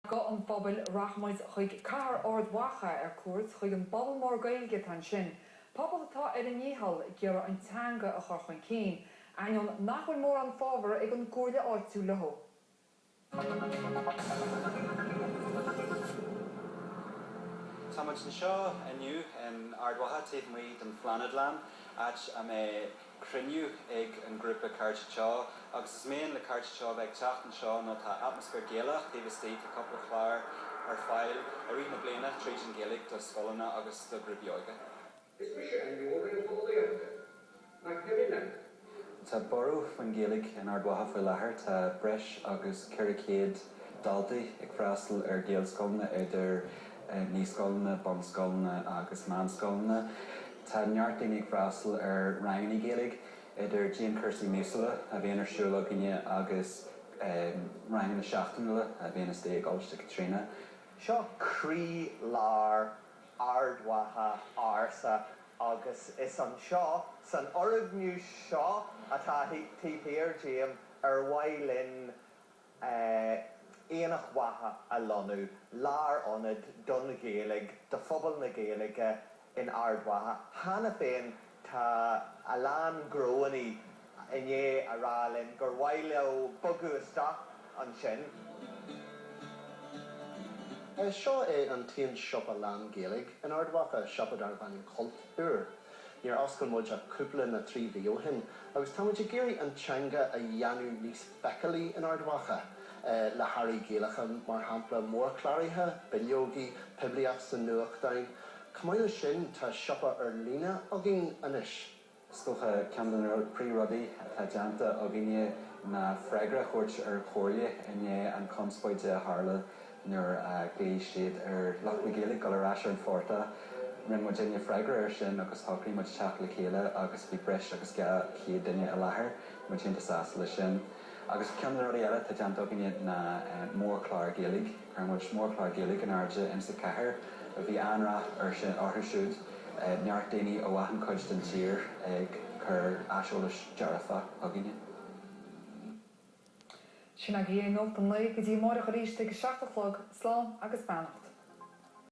Guth an Phobail, Rachaimid chuig cathair Ard Mhacha ar cuairt, chuig an bpobal mór Gaeilge atá ansin, pobal atá ar a ndícheall ag iarraidh an teanga a chur chun cinn, ainneoin nach bhfuil mórán fabhar ag an gComhairle áitiúil leo. Táimid anseo inniu in Ard Mhacha, taobh amuigh den Phláinéadlann, áit a mbeidh. cruinniú ag an ghrúpa Cairde Teo agus is mian le Cairde Teo a bheith ag teacht anseo nó tá atmaisféar Gaelach taobh istigh, tá cúpla clár ar fáil i rith na bliana tríd an Ghaeilge do scoileanna agus do ghrúpaí óige. Is mise an leor réalteolaíochta? Mac Piarais. Tá borradh faoin Ghaeilge in Ard Mhacha faoi láthair, tá breis agus 400 daltaí ag freastal ar Ghaelscoileanna idir naíscoileanna, bunscoileanna agus meánscoileanna. Tá neart daoine ag freastal ar ranganna Gaeilge, idir dianchúrsaí míosúla a bhíonn ar siúl againne agus ranganna seachtainiúla a bhíonn istigh i gColáiste Chaitríona. Seo croí lár Ard Mhacha ársa agus is anseo, san fhoirgneamh seo atá taobh thiar díom, ar mhaith linn Aonach Mhacha a lonnú, lárionad don Ghaeilge, do phobal na Gaeilge in Ard Mhacha. Cheana féin tá a lán gnóannaí i ndiaidh a rá linn gur mhaith leo bogadh isteach ansin. Seo é an t-aon siopa lán-Ghaeilge in Ard Mhacha, siopa darbh ainm Cultúr. Níor oscail muid ach cúpla nó trí mhí ó shin agus tá muid ag iarraidh an teanga a dhéanamh níos feiceálaí in Ard Mhacha le hearraí gaelacha, mar shampla, mórchláraithe, bileogaí, poiblíocht sa nuachtáin. Chomh maith leis sin, tá siopa ar líne againn anois. Is dócha ceann de na príomhrudaí atá déanta againne ná freagra a thabhairt ar an Chomhairle i ndiaidh an chonspóide a tharla nuair a ghlaoigh siad ar lucht na Gaeilge dul ar ais ar an phortach. Rinne muidinne freagra air sin agus shocraigh muid teacht le chéile agus bhí breis agus 200 duine i láthair. Bhí muid iontach sásta leis sin. Agus ceann de na rudaí eile atá déanta againne ná mórchlár Gaeilge. Chuir muid mórchlár Gaeilge in airde insa chathair. Bhí an-rath air sin, orthu siúd, neart daoine ó achan chuid den tír ag cur aiseolais dearfach chugainne. Sin agaibh é nuacht an lae, go dtí amáireach arís ag a seacht a chlog, slán agus beannacht.